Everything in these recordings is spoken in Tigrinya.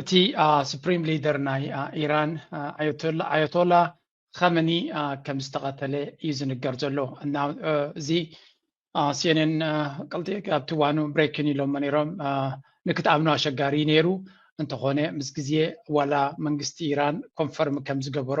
እቲ ስፕሪም ሊደር ናይ ኢራን ኣያቶላ ኸመኒ ከም ዝተቐተለ እዩ ዝንገር ዘሎ እና እዚ ሲኤንኤን ቅልጢ ኣብቲ እዋኑ ብሬኪን ኢሎሞ ነይሮም ንክትኣምኑ ኣሸጋሪ ነይሩ እንተኾነ ምስ ግዜ ዋላ መንግስቲ ኢራን ኮንፈርም ከም ዝገበሮ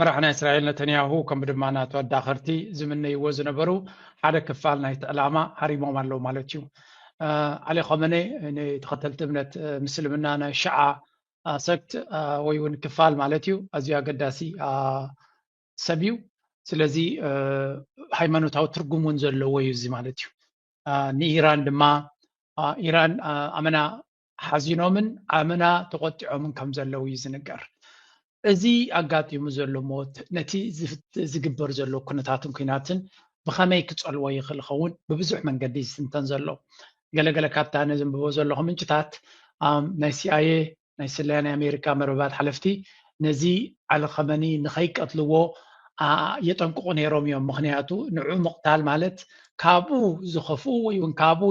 መራሒ ናይ እስራኤል ነተንያሁ ከምኡ ድማ ናቱ ኣዳኸርቲ ዝምነይዎ ዝነበሩ ሓደ ክፋል ናይቲ ዕላማ ሃሪሞም ኣለዉ ማለት እዩ ኣሊ ኸመነ ንተኸተልቲ እምነት ምስልምና ናይ ሸዓ ሰክት ወይ እውን ክፋል ማለት እዩ ኣዝዩ ኣገዳሲ ሰብ እዩ ስለዚ ሃይማኖታዊ ትርጉም እውን ዘለዎ እዩ እዚ ማለት እዩ ንኢራን ድማ ኢራን ኣመና ሓዚኖምን ኣመና ተቖጢዖምን ከም ዘለዉ እዩ ዝንገር። እዚ ኣጋጢሙ ዘሎ ሞት ነቲ ዝግበር ዘሎ ኩነታትን ኩናትን ብኸመይ ክጸልዎ ይኽእል ይኸውን ብብዙሕ መንገዲ ዝትንተን ዘሎ። ገለገለ ካብታ ነዘንብቦ ዘለኹ ምንጭታት ናይ ሲኣይኤ ናይ ስለያ ናይ ኣሜሪካ መርበባት ሓለፍቲ ነዚ ዓሊ ኸመኒ ንኸይቀትልዎ የጠንቅቑ ነይሮም እዮም። ምኽንያቱ ንዑ ምቕታል ማለት ካብኡ ዝኸፍኡ ወይ እውን ካብኡ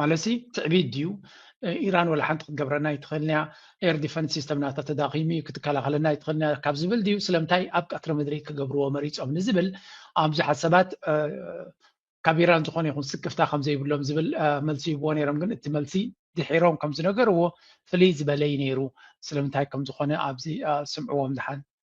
ማለትሲ ትዕቢት ድዩ ኢራን ወላ ሓንቲ ክትገብረና ኣይትኽእልን እያ ኤር ዲፈንስ ሲስተም ናታ ተዳኺሙ እዩ ክትከላኸለና ኣይትኽእልን እያ ካብ ዝብል ድዩ ስለምንታይ ኣብ ቀትሪ ምድሪ ክገብርዎ መሪፆም ንዝብል ኣብ ብዙሓት ሰባት ካብ ኢራን ዝኾነ ይኹን ስክፍታ ከም ዘይብሎም ዝብል መልሲ ይብዎ ነይሮም ግን እቲ መልሲ ድሒሮም ከም ዝነገርዎ ፍልይ ዝበለ እዩ ነይሩ ስለምንታይ ከም ዝኾነ ኣብዚ ስምዕዎም ድሓን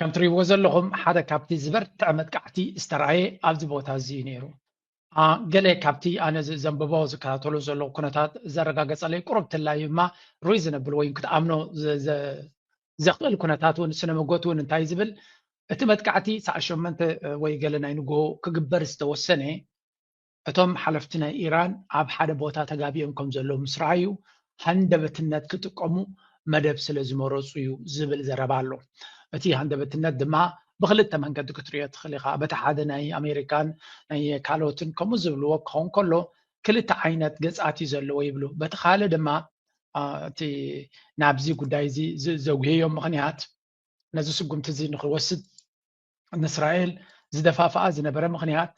ከም ትሪእዎ ዘለኹም ሓደ ካብቲ ዝበርትዐ መጥቃዕቲ ዝተርኣየ ኣብዚ ቦታ እዚ እዩ ነይሩ። ገለ ካብቲ ኣነ ዘንብቦ ዝከታተሎ ዘለኹ ኩነታት ዘረጋገጸለይ ቁሩብ ትላይ እማ ሩይ ዝነብል ወይ ክትኣምኖ ዘኽእል ኩነታት እውን ስነ መጎት እውን እንታይ ዝብል እቲ መጥቃዕቲ ሰዓት ሸመንተ ወይ ገለ ናይ ንግሆ ክግበር ዝተወሰነ እቶም ሓለፍቲ ናይ ኢራን ኣብ ሓደ ቦታ ተጋቢኦም ከም ዘለዉ ምስ ረኣዩ ሃንደበትነት ክጥቀሙ መደብ ስለ ዝመረጹ እዩ ዝብል ዘረባ ኣሎ። እቲ ሃንደበትነት ድማ ብኽልተ መንገዲ ክትሪኦ ትኽእል ኢኻ። በቲ ሓደ ናይ ኣሜሪካን ናይ ካልኦትን ከምኡ ዝብልዎ ክኸውን ከሎ ክልተ ዓይነት ገጻት እዩ ዘለዎ ይብሉ። በቲ ካልእ ድማ እቲ ናብዚ ጉዳይ እዚ ዘጉህዮ ምኽንያት ነዚ ስጉምቲ እዚ ንክወስድ ንእስራኤል ዝደፋፍኣ ዝነበረ ምክንያት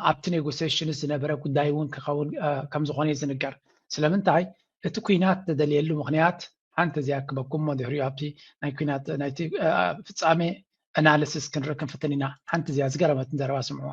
ኣብቲ ኔጎሴሽንስ ዝነበረ ጉዳይ እውን ክኸውን ከምዝኾነ እዩ ዝንገር ስለምንታይ እቲ ኩናት ተደልየሉ ምክንያት ሓንቲ እዚኣ ክበኩም ሞ ድሕሪኡ ኣብቲ ናይ ኩናት ናይቲ ፍፃሜ ኣናሊሲስ ክንርኢ ክንፍትን ኢና ሓንቲ እዚኣ ዝገረመትን ዘረባ ስምዕዋ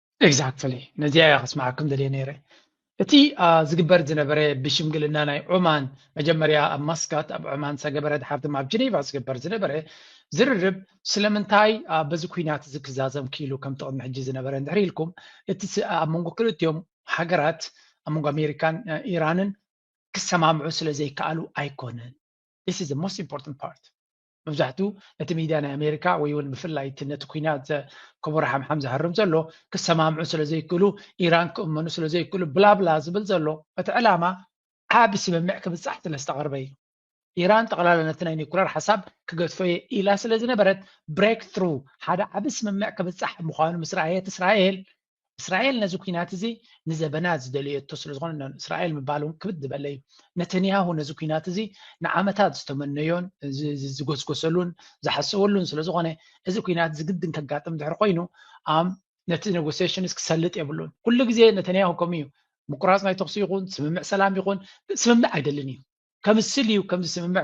Exactly ነዚኣ እየ ከስምዓኩም ደልየ ነይረ እቲ ዝግበር ዝነበረ ብሽምግልና ናይ ዑማን መጀመርያ ኣብ ማስካት ኣብ ዑማን ዝተገበረ ድሓር ድማ ኣብ ጀኔቫ ዝግበር ዝነበረ ዝርርብ ስለምንታይ በዚ ኩናት እዚ ክዛዘም ክኢሉ ከም ጥቕሚ ሕጂ ዝነበረ እንድሕር ኢልኩም እቲ ኣብ መንጎ ክልቲኦም ሃገራት ኣብ መንጎ ኣሜሪካን ኢራንን ክሰማምዑ ስለ ዘይከኣሉ ኣይኮነን This is the most important part መብዛሕቱ ነቲ ሚድያ ናይ ኣሜሪካ ወይ ውን ብፍላይ እቲ ነቲ ኩናት ዘከቦሮ ሓምሓም ዝሃርም ዘሎ ክሰማምዑ ስለ ዘይክእሉ ኢራን ክእመኑ ስለ ዘይክእሉ ብላብላ ዝብል ዘሎ እቲ ዕላማ ዓቢ ስምምዕ ክብጻሕ ስለ ዝተቐርበ እዩ ኢራን ጠቕላላ ነቲ ናይ ኒኩለር ሓሳብ ክገድፎ እየ ኢላ ስለ ዝነበረት ብሬክ ትሩ ሓደ ዓቢ ስምምዕ ክብጻሕ ምዃኑ ምስ ረኣየት እስራኤል እስራኤል ነዚ ኩናት እዚ ንዘበናት ዝደለየቶ ስለዝኾነ እስራኤል ምባል እውን ክብድ ዝበለ እዩ ነተንያሁ ነዚ ኩናት እዚ ንዓመታት ዝተመነዮን ዝጎስጎሰሉን ዝሓሰበሉን ስለዝኾነ እዚ ኩናት ዝግድን ከጋጥም ድሕር ኮይኑ ኣብ ነቲ ኔጎሲሽንስ ክሰልጥ የብሉን ኩሉ ግዜ ነተንያሁ ከምኡ እዩ ምቁራፅ ናይ ተኽሲ ይኹን ስምምዕ ሰላም ይኹን ስምምዕ ኣይደልን እዩ ከምስል እዩ ከም ዝስምምዕ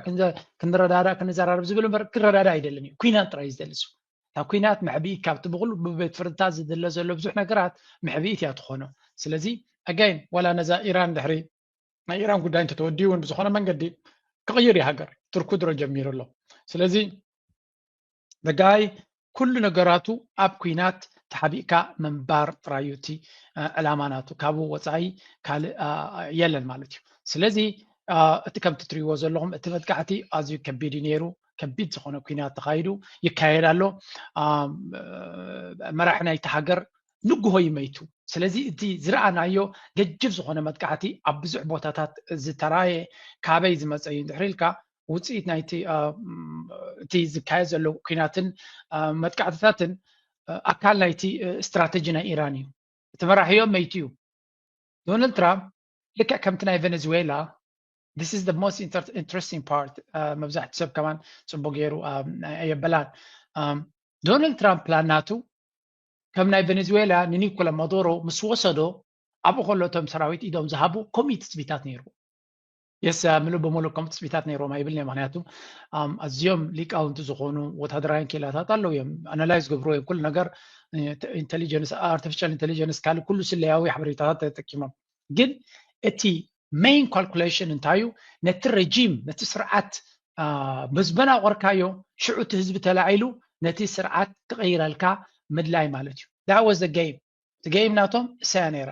ክንረዳዳእ ክንዘራረብ ዝብል እምበር ክረዳዳ ኣይደልን እዩ ኩናት ጥራይ ዝደሊ እሱ እታ ኩናት መሕብኢት ካብቲ ብኩሉ ብቤት ፍርድታት ዝድለ ዘሎ ብዙሕ ነገራት መሕብኢት እያ ትኾኖ ስለዚ ኣጋይን ዋላ ነዛ ኢራን ድሕሪ ናይ ኢራን ጉዳይ እንተተወዲኡ እውን ብዝኾነ መንገዲ ክቕይር እዩ ሃገር ትርኩ ድሮ ጀሚሩ ኣሎ ስለዚ the guy ኩሉ ነገራቱ ኣብ ኩናት ተሓቢእካ ምንባር ጥራዩ እቲ ዕላማ ናቱ ካብኡ ወፃኢ ካልእ የለን ማለት እዩ ስለዚ እቲ ከምቲ ትሪእዎ ዘለኹም እቲ መጥቃዕቲ ኣዝዩ ከቢድ እዩ ነይሩ ከቢድ ዝኾነ ኩናት ተኻይዱ ይካየድ ኣሎ መራሒ ናይቲ ሃገር ንግሆ እዩ መይቱ ስለዚ እቲ ዝረኣናዮ ገጅፍ ዝኾነ መጥቃዕቲ ኣብ ብዙሕ ቦታታት ዝተራየ ካበይ ዝመፀ እዩ እንድሕር ኢልካ ውፅኢት ናይቲ እቲ ዝካየድ ዘሎ ኩናትን መጥቃዕትታትን ኣካል ናይቲ ስትራተጂ ናይ ኢራን እዩ እቲ መራሒዮ መይቱ እዩ ዶናልድ ትራምፕ ልክዕ ከምቲ ናይ ቬነዝዌላ this is the most inter interesting part uh, መብዛሕትኡ ሰብ ከማን ፅቡቅ ገይሩ um, ኣየበላን um, ዶናልድ ትራምፕ ፕላን ናቱ ከም ናይ ቬኔዙዌላ ንኒኮላ ማዶሮ ምስ ወሰዶ ኣብኡ ከሎ እቶም ሰራዊት ኢዶም ዝሃቡ ከምኡ ትፅቢታት ነይሩ የስ ምሉእ ብምሉእ ከም ትፅቢታት ነይሮም ኣይብል ምክንያቱ ኣዝዮም ሊቃውንቲ ዝኾኑ ወታደራውያን ኬላታት ኣለዉ እዮም ኣናላይዝ ገብሮ እዮም ኩሉ ነገር ኢንቴሊጀንስ ኣርቲፊሻል ኢንቴሊጀንስ ካልእ ኩሉ ስለያዊ ሓበሬታታት ተጠቂሞም ግን እቲ ሜይን ካልኩሌሽን እንታይ እዩ ነቲ ረጂም ነቲ ስርዓት ምዝበና ቆርካዮ ሽዑ እቲ ህዝቢ ተላዒሉ ነቲ ስርዓት ክቐይረልካ ምድላይ ማለት እዩ ዳወዘ ገይም እቲ ገይም ናቶም እሳያ ነይራ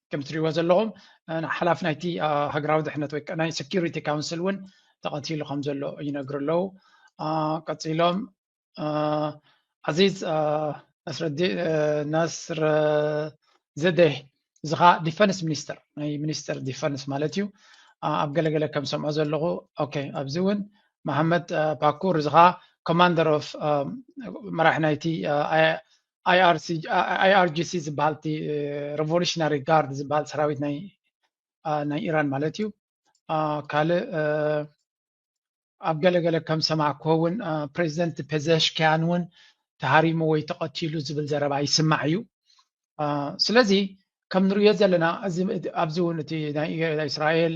ከም ትሪእዎ ዘለኹም ሓላፊ ናይቲ ሃገራዊ ድሕነት ወይ ናይ ሴኪሪቲ ካውንስል እውን ተቐቲሉ ከም ዘሎ ይነግሩ ኣለዉ ቀፂሎም ዓዚዝ ነስረ ዘደህ እዚ ከዓ ዲፈንስ ሚኒስተር ናይ ሚኒስተር ዲፈንስ ማለት እዩ ኣብ ገለገለ ከም ሰምዖ ዘለኹ ኦኬ ኣብዚ እውን መሓመድ ፓኩር እዚ ከዓ ኮማንደር ኦፍ መራሒ ናይቲ ኣይኣርጂሲ ዝበሃል እቲ ረቮሉሽናሪ ጋርድ ዝበሃል ሰራዊት ናይ ኢራን ማለት እዩ ካልእ ኣብ ገለገለ ከም ሰማዕኩ እውን ፕሬዚደንት ፔዘሽኪያን እውን ተሃሪሙ ወይ ተቐቲሉ ዝብል ዘረባ ይስማዕ እዩ ስለዚ ከም ንርእዮ ዘለና ኣብዚ እውን እቲ ናይ እስራኤል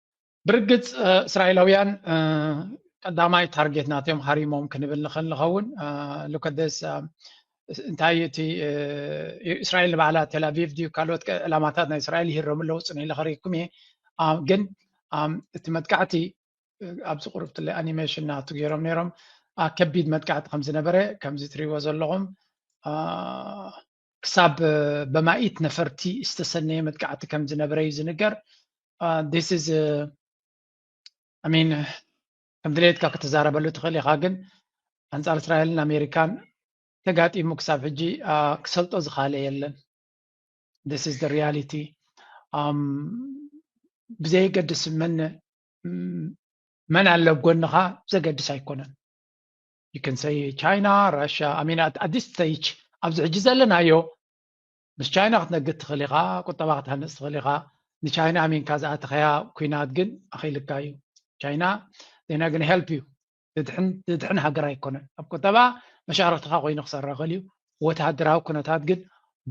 ብርግጽ እስራኤላውያን ቀዳማይ ታርጌት ናትዮም ሃሪሞም ክንብል ንኽእል ንኸውን ሉከደስ እንታይ እቲ እስራኤል ንባዕላ ቴላቪቭ ድዩ ካልኦት ዕላማታት ናይ እስራኤል ይህረሙ ኣለዉ ፅን ኢለ ከሪኩም እየ ግን እቲ መጥቃዕቲ ኣብዚ ቁርብ ትለ ኣኒሜሽን ናቱ ገይሮም ነይሮም ከቢድ መጥቃዕቲ ከም ዝነበረ ከምዚ ትሪእዎ ዘለኹም ክሳብ በማኢት ነፈርቲ ዝተሰነየ መጥቃዕቲ ከም ዝነበረ እዩ ዝንገር ዲስ ኢዝ ኣሚን ከም ድሌትካ ክትዛረበሉ ትኽእል ኢኻ ግን ኣንጻር እስራኤልን ኣሜሪካን ተጋጢሙ ክሳብ ሕጂ ክሰልጦ ዝካለ የለን ስ ስ ሪያሊቲ ብዘየገድስ መን መን ኣለ ጎንኻ ዘገድስ ኣይኮነን ይክንሰይ ቻይና ራሻ ኣሜን ኣዲስ ስተይች ኣብዚ ሕጂ ዘለናዮ ምስ ቻይና ክትነግድ ትኽእል ኢኻ ቁጠባ ክትሃንፅ ትኽእል ኢኻ ንቻይና ኣሚንካ ዝኣተኸያ ኩናት ግን ኣኽኢልካ እዩ ቻይና ዜና ግን ሄልፕ እዩ ድድሕን ሃገር ኣይኮነን ኣብ ቁጠባ መሻርክትኻ ኮይኑ ክሰራ ክእል እዩ ወተሃደራዊ ኩነታት ግን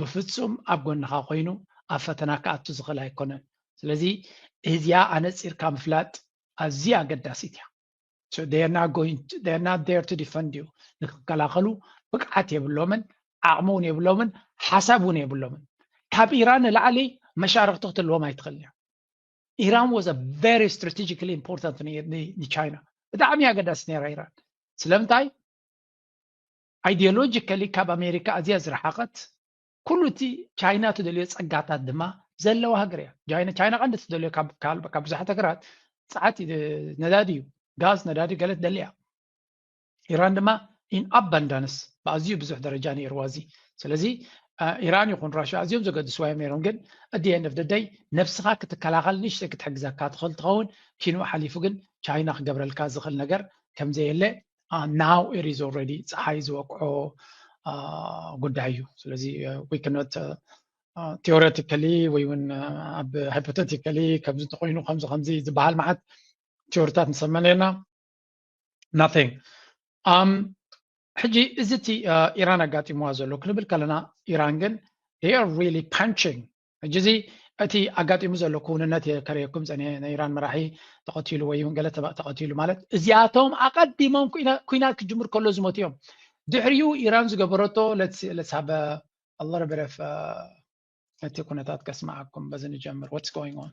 ብፍፁም ኣብ ጎንኻ ኮይኑ ኣብ ፈተና ክኣቱ ዝኽእል ኣይኮነን ስለዚ እዚኣ ኣነፂርካ ምፍላጥ ኣዝዩ ኣገዳሲት እያ ንክከላኸሉ ብቅዓት የብሎምን ዓቅሚ ውን የብሎምን ሓሳብ ውን የብሎምን ካብ ኢራን ንላዕሊ መሻርክቲ ክትህልዎም ኣይትክእልን እያ ኢራን was a very strategically important ንቻይና ብጣዕሚ ኣገዳሲ ነይራ ኢራን ስለምንታይ ኣይዲዮሎጂካሊ ካብ ኣሜሪካ ኣዝያ ዝረሓቀት ኩሉ እቲ ቻይና እትደልዮ ፀጋታት ድማ ዘለዋ ሃገር እያ። ቻይና ቀንዲ እትደልዮ ካብ ብዙሓት ሃገራት ፀዓት ነዳዲ እዩ። ጋዝ ነዳዲ ገለ ትደሊ እያ። ኢራን ድማ ኢን ኣባንዳንስ ብኣዝዩ ብዙሕ ደረጃ ነይርዋ እዚ ስለዚ ኢራን ይኹን ራሽያ ኣዝዮም ዘገድስዋ እዮም ነይሮም ግን እቲ ኤንድ ኦፍ ደይ ነብስኻ ክትከላኸል ንእሽተይ ክትሕግዘካ ትኽእል ትኸውን ኪኑ ሓሊፉ ግን ቻይና ክገብረልካ ዝኽእል ነገር ከምዘየለ ናው ኢት ኢዝ ኦልሬዲ ፀሓይ ዝወቅዖ ጉዳይ እዩ ስለዚ ዊ ከኖት ቴዎሬቲካሊ ወይ እውን ኣብ ሃይፖቴቲካሊ ከምዚ እንተኮይኑ ከምዚ ከምዚ ዝበሃል መዓት ቴዎሪታት ንሰመ ነርና ናቲንግ ሕጂ እዚ እቲ ኢራን ኣጋጢምዋ ዘሎ ክንብል ከለና ኢራን ግን ር ሪሊ ፓንቺንግ ሕጂ እዚ እቲ ኣጋጢሙ ዘሎ ክውንነት እየ ከርእየኩም ፀኒሐ ናይ ኢራን መራሒ ተቐቲሉ ወይ ገለ ተቐቲሉ ማለት እዚኣቶም ኣቐዲሞም ኩናት ክጅምር ከሎ ዝሞት እዮም ድሕሪኡ ኢራን ዝገበረቶ ለትሳበ ኣሎረበረፍ እቲ ኩነታት ከስማዓኩም በዚ ንጀምር ወትስ ጎይንግ ኦን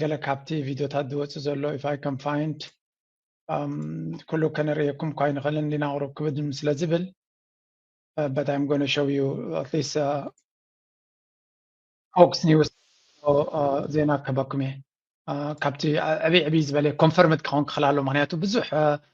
ገለ ካብቲ ቪድዮታት ዝወፅእ ዘሎ ኢፍ ኣይ ካን ፋይንድ ኩሉ ከነርእየኩም እኳ ኣይንኽእልን ዲና ቁሩብ ክብድ ስለ ዝብል በት ኣይም ጎነ ሾው ዩ ኣትሊስት ፎክስ ኒውስ ዜና ክህበኩም እየ ካብቲ ዕብይ ዕብይ ዝበለ ኮንፈርምድ ክኸውን ክኽእል ኣሎ ምክንያቱ ብዙሕ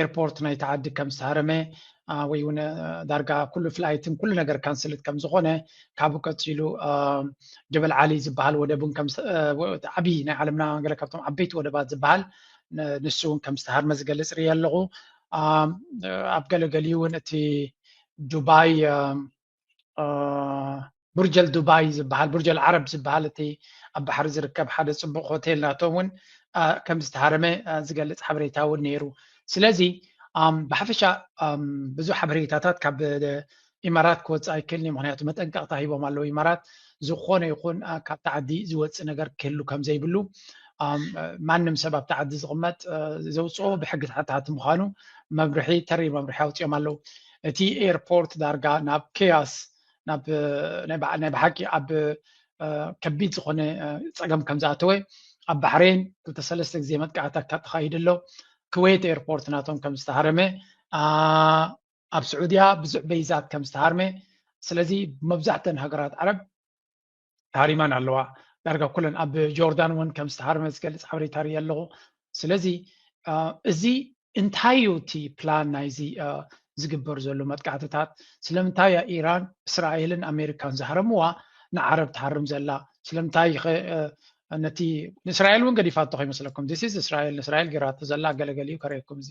ኤርፖርት ናይቲ ዓዲ ከም ዝተሃረመ ወይ እውን ዳርጋ ኩሉ ፍላይትን ኩሉ ነገር ካንስልት ከም ዝኾነ ካብኡ ቀፂሉ ጀበል ዓሊ ዝበሃል ወደብ እውን ዓብዪ ናይ ዓለምና ገለ ካብቶም ዓበይቲ ወደባት ዝበሃል ንሱ እውን ከም ዝተሃርመ ዝገልፅ ርእየ ኣለኹ ኣብ ገለገሊኡ እውን እቲ ዱባይ ቡርጀል ዱባይ ዝበሃል ቡርጀል ዓረብ ዝበሃል እቲ ኣብ ባሕሪ ዝርከብ ሓደ ፅቡቕ ሆቴል ናቶም እውን ከም ዝተሃረመ ዝገልፅ ሓበሬታ እውን ነይሩ ስለዚ ብሓፈሻ ብዙሕ ሓበሬታታት ካብ ኢማራት ክወፅእ ኣይክእልን እዩ ምክንያቱ መጠንቀቕታ ሂቦም ኣለዉ ኢማራት ዝኾነ ይኹን ካብቲ ዓዲ ዝወፅእ ነገር ክህሉ ከም ዘይብሉ ማንም ሰብ ኣብቲ ዓዲ ዝቕመጥ ዘውፅኦ ብሕጊ ተሓታቲ ምዃኑ መምርሒ ተሪር መምርሒ ኣውፅኦም ኣለዉ እቲ ኤርፖርት ዳርጋ ናብ ኬያስ ናብ ናይ ብሓቂ ኣብ ከቢድ ዝኾነ ፀገም ከም ዝኣተወ ኣብ ባሕሬን ክልተ ሰለስተ ግዜ መጥቃዕቲ ተኻይዱ ኣሎ ክወይት ኤርፖርት ናቶም ከም ዝተሃረመ ኣብ ስዑድያ ብዙሕ በይዛት ከም ዝተሃርመ ስለዚ መብዛሕተን ሃገራት ዓረብ ተሃሪማን ኣለዋ ዳርጋ ኩለን ኣብ ጆርዳን እውን ከም ዝተሃርመ ዝገልፅ ሓበሬታ ርኢ ኣለኹ ስለዚ እዚ እንታይ እዩ እቲ ፕላን ናይዚ ዝግበር ዘሎ መጥቃዕትታት ስለምንታይ እያ ኢራን እስራኤልን ኣሜሪካን ዝሃረምዋ ንዓረብ ትሃርም ዘላ ስለምንታይ ነቲ ንእስራኤል እውን ገዲፋቶ ከይመስለኩም ዲስ እስራኤል ንእስራኤል ገይራቶ ዘላ ገለገሊኡ ከርእየኩም እዚ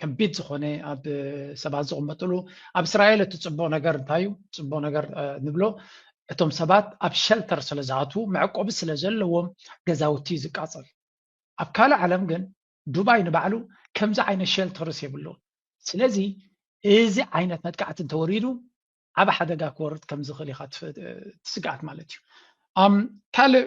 ከቢድ ዝኾነ ኣብ ሰባት ዝቕመጥሉ ኣብ እስራኤል እቲ ፅቡቕ ነገር እንታይ እዩ ፅቡቕ ነገር ንብሎ እቶም ሰባት ኣብ ሸልተር ስለ ዝኣትዉ መዕቆቢ ስለ ዘለዎም ገዛውቲ እዩ ዝቃፀል ኣብ ካልእ ዓለም ግን ዱባይ ንባዕሉ ከምዚ ዓይነት ሸልተርስ የብሉን ስለዚ እዚ ዓይነት መጥቃዕቲ እንተወሪዱ ዓብ ሓደጋ ክወርድ ከም ዝኽእል ኢኻ ትስግኣት ማለት እዩ ካልእ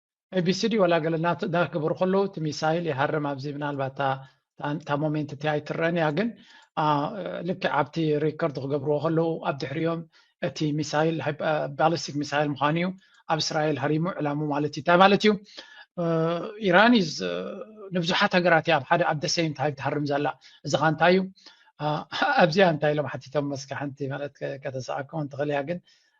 ኤቢሲዲ ዋላ ገለ እናዳክብሩ ከለዉ እቲ ሚሳይል ይሃርም ኣብዚ ምናልባት እታ ሞሜንት እቲ ኣይትረአን እያ ግን ልክዕ ኣብቲ ሪከርድ ክገብርዎ ከለዉ ኣብ ድሕሪኦም እቲ ሚሳይል ባሊስቲክ ሚሳይል ምዃኑ እዩ ኣብ እስራኤል ሃሪሙ ዕላሙ ማለት እዩ እንታይ ማለት እዩ ኢራን እዩ ንብዙሓት ሃገራት እያ ኣብ ሓደ ኣብ ደሰይም ታይም ትሃርም ዘላ እዚ ኸ እንታይ እዩ ኣብዚኣ እንታይ ኢሎም ሓቲቶም መስኪ ሓንቲ ማለት ከተሰኣኩም እንትኽእል እያ ግን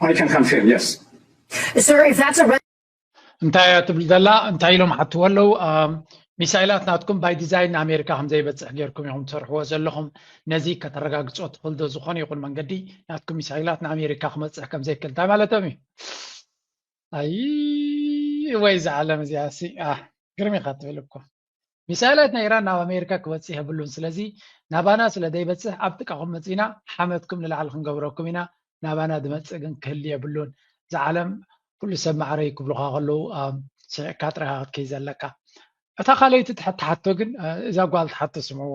I can confirm, yes. Sir, if that's a red... እንታይ እያ ትብል ዘላ እንታይ ኢሎም ሓትዎ ኣለው ሚሳይላት ናትኩም ባይ ዲዛይን ንኣሜሪካ ከም ዘይበፅሕ ጌርኩም ኢኹም ትሰርሕዎ ዘለኹም ነዚ ከተረጋግፆ ትኽእል ዶ ዝኾነ ይኹን መንገዲ ናትኩም ሚሳይላት ንኣሜሪካ ክመፅሕ ከም ዘይክእል እንታይ ማለቶም እዩ ኣይ ወይ እዚ ዓለም እዚኣ ሲ ግርም ኢኻ ትብል እኮ ሚሳይላት ናይ ኢራን ናብ ኣሜሪካ ክበጽሕ የብሉን ስለዚ ናባና ስለ ዘይበጽሕ ኣብ ጥቃኹም መጺና ሓመድኩም ንላዕሊ ክንገብረኩም ኢና ናባና ዝመጽእ ግን ክህሊ የብሉን እዚ ዓለም ኩሉ ሰብ ማዕረዩ ክብሉኻ ከለዉ ስዒቅካ ጥራይኻ ክትከይ ዘለካ እታ ካልኣይቲ ትሓቶ ግን እዛ ጓል ትሓቶ ስምዕዎ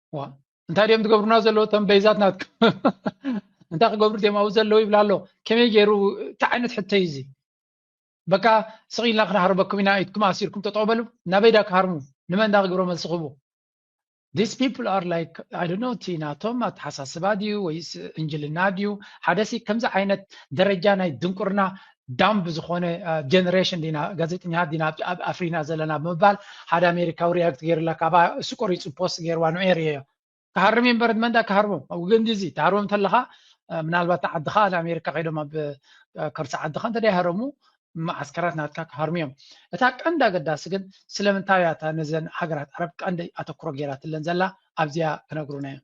ዋ እንታይ ድዮም ዝገብሩና ዘለዉ እቶም በይዛት ናትኩም እንታይ ክገብሩ ድዮም ኣብኡ ዘለዉ ይብላ ኣሎ ከመይ ገይሩ እንታይ ዓይነት ሕቶ እዩ እዚ በቃ ስቕ ኢልና ክንሃርበኩም ኢና ኢድኩም ኣሲርኩም ጠጠው በሉ ናበይ ዳ ክሃርሙ ንመን ዳ ክግብሮ መልሲ ክህቡ ዲስ ፒፕል ኣር ላይክ ኣይ ዶንት ኖ እቲ ናቶም ኣተሓሳስባ ድዩ ወይስ እንጅልና ድዩ ሓደሲ ከምዚ ዓይነት ደረጃ ናይ ድንቁርና ዳምብ ዝኾነ ጀነሬሽን ዲና ጋዜጠኛታት ዲና ኣብ ኣፍሪና ዘለና ብምባል ሓደ ኣሜሪካዊ ሪያክት ገይሩላ ካባ እሱ ቆሪጹ ፖስት ገይርዋ ንዑ ርየዮ ክሃርም እምበር ንመን ዳ ክሃርቦም ኣብ ግንዲ እዚ ትሃርቦም እንተለኻ ምናልባት ንዓድኻ ንኣሜሪካ ከይዶም ኣብ ከርሲ ዓድኻ እንተ ይሃረሙ መዓስከራት ናትካ ክሃርሙ እዮም እታ ቀንዲ ኣገዳሲ ግን ስለምንታይ እያ እታ ነዘን ሃገራት ዓረብ ቀንዲ ኣተኩሮ ገይራትለን ዘላ ኣብዚኣ ክነግሩና እዮም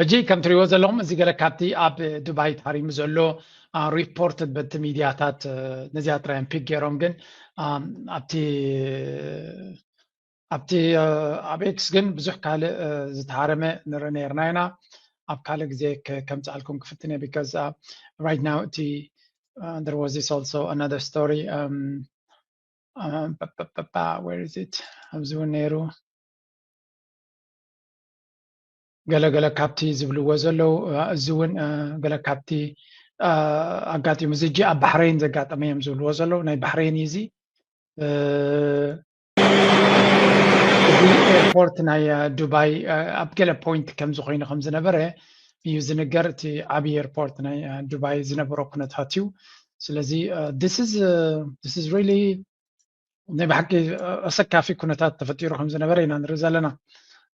ሕጂ ከም ትሪእዎ ዘለኹም እዚ ገለ ካብቲ ኣብ ዱባይ ተሃሪሙ ዘሎ ሪፖርት በቲ ሚድያታት ነዚኣ ጥራዮም ፒክ ገይሮም ግን ኣብቲ ኣብቲ ኣብ ኤክስ ግን ብዙሕ ካልእ ዝተሃረመ ንርኢ ነርና ኢና ኣብ ካልእ ግዜ ከምፅኣልኩም ክፍትን እየ ቢካዝ ራይት ናው እቲ there was this also another story um, um, ba, ba, ba, ba, where is it ኣብዚ እውን ነይሩ ገለ ገለ ካብቲ ዝብልዎ ዘለዉ እዚ እውን ገለ ካብቲ ኣጋጢሙ እዚ እጂ ኣብ ባሕረይን ዘጋጠመ እዮም ዝብልዎ ዘለዉ ናይ ባሕረይን እዩ እዚ እዚ ኤርፖርት ናይ ዱባይ ኣብ ገለ ፖይንት ከምዚ ኮይኑ ከም ዝነበረ እዩ ዝንገር እቲ ዓብዪ ኤርፖርት ናይ ዱባይ ዝነበሮ ኩነታት እዩ ስለዚ ስ ሪሊ ናይ ብሓቂ ኣሰካፊ ኩነታት ተፈጢሩ ከም ዝነበረ ኢና ንርኢ ዘለና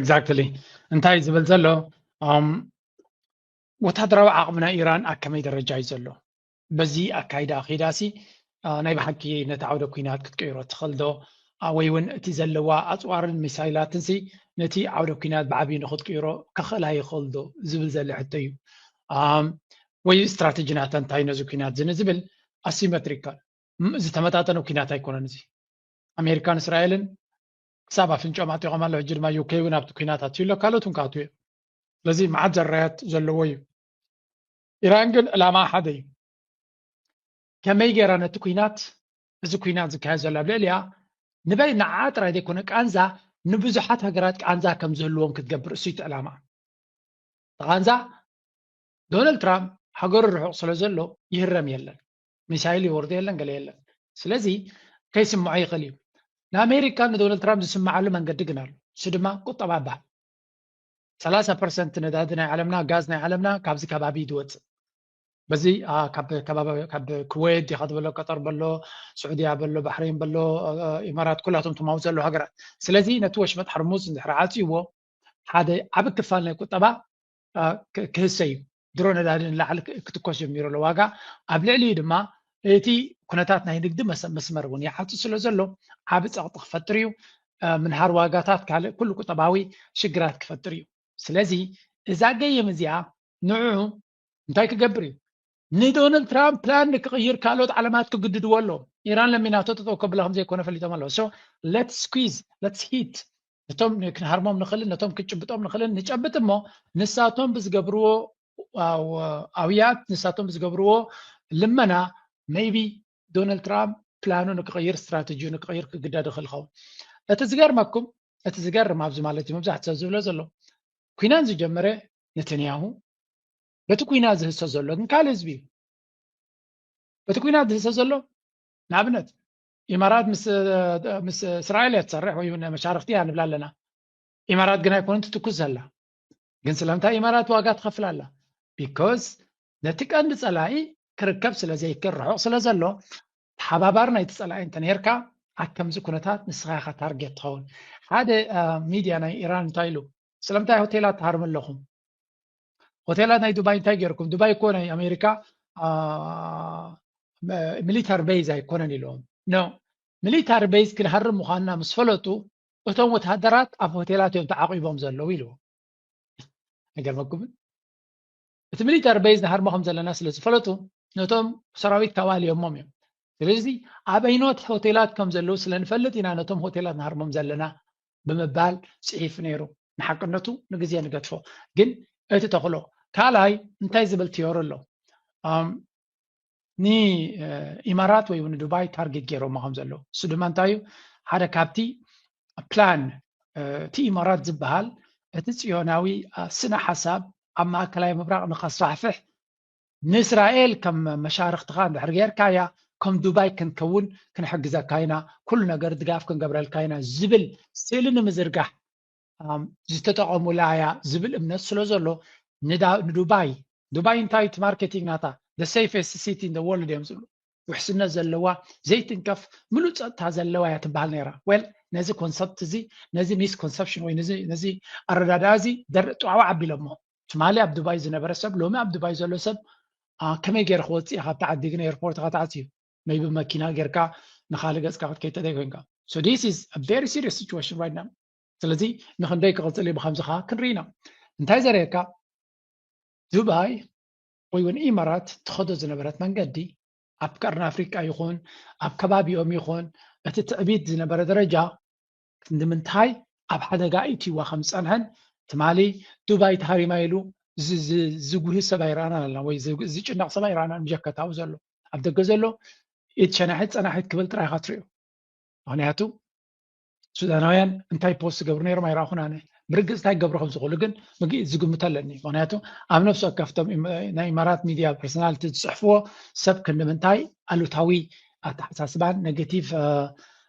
ኤግዛክትሊ እንታይ እዩ ዝብል ዘሎ ወታደራዊ ዓቕሚ ናይ ኢራን ኣብ ከመይ ደረጃ እዩ ዘሎ በዚ ኣካይዳ ኺዳሲ ናይ ብሓቂ ነቲ ዓውደ ኩናት ክትቅይሮ ትኽእል ዶ ወይ እውን እቲ ዘለዋ ኣፅዋርን ሚሳይላትንሲ ነቲ ዓውደ ኩናት ብዓብዪ ንክትቅይሮ ከኽእላ ይኽእል ዶ ዝብል ዘለ ሕቶ እዩ ወይ ስትራቴጂ ናታ እንታይ ነዚ ኩናት እዚ ንዝብል ኣሲሜትሪካል ዝተመጣጠነ ኩናት ኣይኮነን እዚ ኣሜሪካን እስራኤልን ክሳብ ኣፍንጭኦም ኣጢቆም ኣሎ ሕጂ ድማ ዩከይ እውን ኣብቲ ኩናት ኣትዩ ኣሎ ካልኦት እውን ክኣትዉ እዮም ስለዚ መዓት ዘራያት ዘለዎ እዩ ኢራን ግን ዕላማ ሓደ እዩ ከመይ ገይራ ነቲ ኩናት እዚ ኩናት ዝካየድ ዘሎ ኣብ ልዕልያ ንበይ ንዓ ጥራይ ዘይኮነ ቃንዛ ንብዙሓት ሃገራት ቃንዛ ከም ዝህልዎም ክትገብር እሱ እቲ ዕላማ ቃንዛ ዶናልድ ትራምፕ ሃገሩ ርሑቕ ስለ ዘሎ ይህረም የለን ሚሳይል ይወርዶ የለን ገለ የለን ስለዚ ከይስምዖ ይኽእል እዩ ንኣሜሪካ ንዶናልድ ትራምፕ ዝስምዓሉ መንገዲ ግን ኣሎ እሱ ድማ ቁጠባ ይበሃል ሰላሳ ፐርሰንት ነዳዲ ናይ ዓለምና ጋዝ ናይ ዓለምና ካብዚ ከባቢ ዝወፅእ በዚ ካብ ክወት ዲካ ዝበሎ ቀጠር በሎ ስዑድያ በሎ ባሕሬን በሎ ኢማራት ኩላቶም ትማውፅ ዘለዉ ሃገራት ስለዚ ነቲ ወሽመጥ ሓርሙዝ እንድሕር ዓፅይዎ ሓደ ዓብ ክፋል ናይ ቁጠባ ክህሰ እዩ። ድሮ ነዳዲ ንላዕሊ ክትኮስ ጀሚሩ ኣሎ ዋጋ ኣብ ልዕሊኡ ድማ እቲ ኩነታት ናይ ንግዲ መስመር እውን ይዓፁ ስለ ዘሎ ዓቢ ፀቕጢ ክፈጥር እዩ ምንሃር ዋጋታት ካልእ ኩሉ ቁጠባዊ ሽግራት ክፈጥር እዩ ስለዚ እዛ ገየም እዚኣ ንዑ እንታይ ክገብር እዩ ንዶናልድ ትራምፕ ፕላን ንክቕይር ካልኦት ዓለማት ክግድድዎ ኣሎ ኢራን ለሚናቶ ጠጠው ከብላ ከምዘይኮነ ፈሊጦም ኣለዎ ሶ ለትስ ስኩዝ ለትስ ሂት ነቶም ክንሃርሞም ንኽእልን ነቶም ክንጭብጦም ንኽእልን ንጨብጥ እሞ ንሳቶም ብዝገብርዎ ኣውያት ንሳቶም ብዝገብርዎ ልመና መይቢ ዶናልድ ትራምፕ ፕላኑ ንክቕይር ስትራተጂ ንክቕይር ክግደድ ይኽእል ይኸውን እቲ ዝገርመኩም እቲ ዝገርም ኣብዚ ማለት እዩ መብዛሕት ሰብ ዝብሎ ዘሎ ኩናት ዝጀመረ ነተንያሁ በቲ ኩናት ዝህሰ ዘሎ ግን ካልእ ህዝቢ እዩ በቲ ኩናት ዝህሰ ዘሎ ንኣብነት ኢማራት ምስ እስራኤል እያ ትሰርሕ ወይ መሻርክቲ እያ ንብላ ኣለና ኢማራት ግን ኣይኮነን ትትኩስ ዘላ ግን ስለምንታይ ኢማራት ዋጋ ትኸፍል ኣላ ቢኮዝ ነቲ ቀንዲ ፀላኢ ክርከብ ስለ ዘይክል ርሑቕ ስለ ዘሎ ተሓባባሪ ናይቲ ፀላኢ እንተነርካ ኣብ ከምዚ ኩነታት ንስኻ ኢኻ ታርጌት ትኸውን ሓደ ሚድያ ናይ ኢራን እንታይ ኢሉ ስለምንታይ ሆቴላት ትሃርሙ ኣለኹም ሆቴላት ናይ ዱባይ እንታይ ገይርኩም ዱባይ እኮ ናይ ኣሜሪካ ሚሊታሪ ቤዝ ኣይኮነን ኢሎም ኖ ሚሊታሪ ቤዝ ክንሃርም ምዃንና ምስ ፈለጡ እቶም ወተሃደራት ኣብ ሆቴላት እዮም ተዓቂቦም ዘለዉ ኢልዎ ኣይገርመኩምን እቲ ሚሊታሪ ቤዝ ንሃርሞ ከም ዘለና ስለ ዝፈለጡ ነቶም ሰራዊት ካብ ኣልዮሞም እዮም ስለዚ ኣበይኖት ሆቴላት ከም ዘለዉ ስለ ንፈልጥ ኢና ነቶም ሆቴላት ንሃርሞም ዘለና ብምባል ጽሒፉ ነይሩ። ንሓቅነቱ ንግዜ ንገድፎ። ግን እቲ ተኽሎ ካልኣይ እንታይ ዝብል ትዮሪ ኣሎ? ንኢማራት ወይ እውን ዱባይ ታርጌት ገይሮማ ከም ዘለዉ እሱ ድማ እንታይ እዩ ሓደ ካብቲ ፕላን እቲ ኢማራት ዝበሃል እቲ ጽዮናዊ ስነ ሓሳብ ኣብ ማእከላይ ምብራቕ ንኸስፋሕፍሕ ንእስራኤል ከም መሻርኽትኻ እንድሕር ጌርካያ ከም ዱባይ ክንከውን ክንሕግዘካ ኢና፣ ኩሉ ነገር ድጋፍ ክንገብረልካ ኢና ዝብል ስእሊ ንምዝርጋሕ ዝተጠቐሙላ እያ ዝብል እምነት ስለ ዘሎ ንዱባይ ዱባይ እንታይ እዩ እቲ ማርኬቲንግ ናታ the safest city in the world እዮም ዝብሉ ውሕስነት ዘለዋ ዘይትንከፍ ምሉእ ፀጥታ ዘለዋ እያ ትበሃል ነይራ ዌል ነዚ ኮንሰፕት እዚ ነዚ ሚስኮንሰፕሽን ወይ ነዚ ኣረዳድኣ እዚ ጥዋዕዋዕ ኣቢሎሞ ትማሊ ኣብ ዱባይ ዝነበረ ሰብ ሎሚ ኣብ ዱባይ ዘሎ ሰብ ከመይ ገይረ ክወፅእ ካብቲ ዓዲ ግን ኤርፖርት ኢካ ተዓፅዩ መይቢ መኪና ጌርካ ንካልእ ገፅካ ክትከይድ ተዘይኮይንካ ሶ ዲስ ኢዝ አ ቨሪ ሲሪየስ ሲቹዌሽን ራይት ናው ስለዚ ንክንደይ ክቕፅል እዩ ብከምዚ ከዓ ክንርኢ ኢና እንታይ ዘርእየካ ዱባይ ወይ እውን ኢማራት ትኸዶ ዝነበረት መንገዲ ኣብ ቀርኒ ኣፍሪቃ ይኹን ኣብ ከባቢኦም ይኹን እቲ ትዕቢት ዝነበረ ደረጃ ክንዲ ምንታይ ኣብ ሓደጋ ኣእትይዋ ከም ዝጸንሐን ትማሊ ዱባይ ተሃሪማ ኢሉ ዝጉሂ ሰብ ኣይረኣናን ኣለና ወይ ዝጭነቕ ሰብ ኣይረኣናን ብጀካ ኣብኡ ዘሎ ኣብ ደገ ዘሎ ኢድ ሸናሒት ጸናሒት ክብል ጥራይ ኢኻ ትሪኦ ምክንያቱ ሱዳናውያን እንታይ ፖስት ዝገብሩ ነይሮም ኣይረኣኹን ኣነ ብርግፅ እንታይ ክገብሩ ከም ዝኽእሉ ግን ዝግምቶ ኣለኒ ምክንያቱ ኣብ ነፍሲ ወከፍቶም ናይ ኢማራት ሚድያ ፐርሶናልቲ ዝፅሕፍዎ ሰብ ክንዲ ምንታይ ኣሉታዊ ኣተሓሳስባን ኔጌቲቭ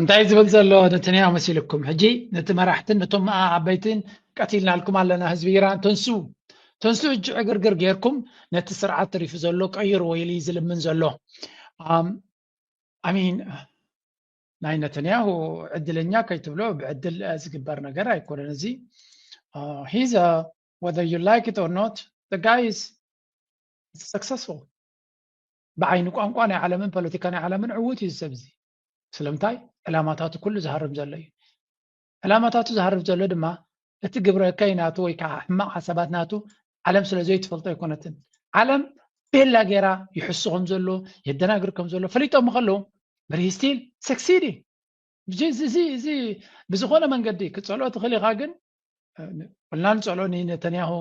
እንታይ ዝብል ዘሎ ነተንያሁ መሲልኩም ሕጂ ነቲ መራሕትን ነቶም መኣ ዓበይትን ቀቲልናልኩም ኣለና ህዝቢ ኢራን ተንሱ ተንሱ ሕጂ ዕግርግር ጌርኩም ነቲ ስርዓት ተሪፉ ዘሎ ቀይሩ ወይ ኢሉ ዝልምን ዘሎ ኣሚን ናይ ነተንያሁ ዕድለኛ ከይትብሎ ብዕድል ዝግበር ነገር ኣይኮነን እዚ ሂዘ whether you like it or not the guy is successful ብዓይኒ ቋንቋ ናይ ዓለምን ፖለቲካ ናይ ዓለምን ዕዉት እዩ ዝሰብ እዚ ስለምንታይ ዕላማታቱ ኩሉ ዝሃርም ዘሎ እዩ ዕላማታቱ ዝሃርፍ ዘሎ ድማ እቲ ግብረ እከይ ናቱ ወይ ከዓ ሕማቕ ሓሳባት ናቱ ዓለም ስለ ዘይትፈልጦ ኣይኮነትን ዓለም ቤላ ገይራ ይሕሱ ከም ዘሎ የደናግር ከም ዘሎ ፈሊጦም ከለዉ ብሪስቲል ሰክሲዲ እዚ እዚ ብዝኾነ መንገዲ ክፀልኦ ትኽእል ኢኻ ግን ቁልና ንፀልኦ ንተንያሁ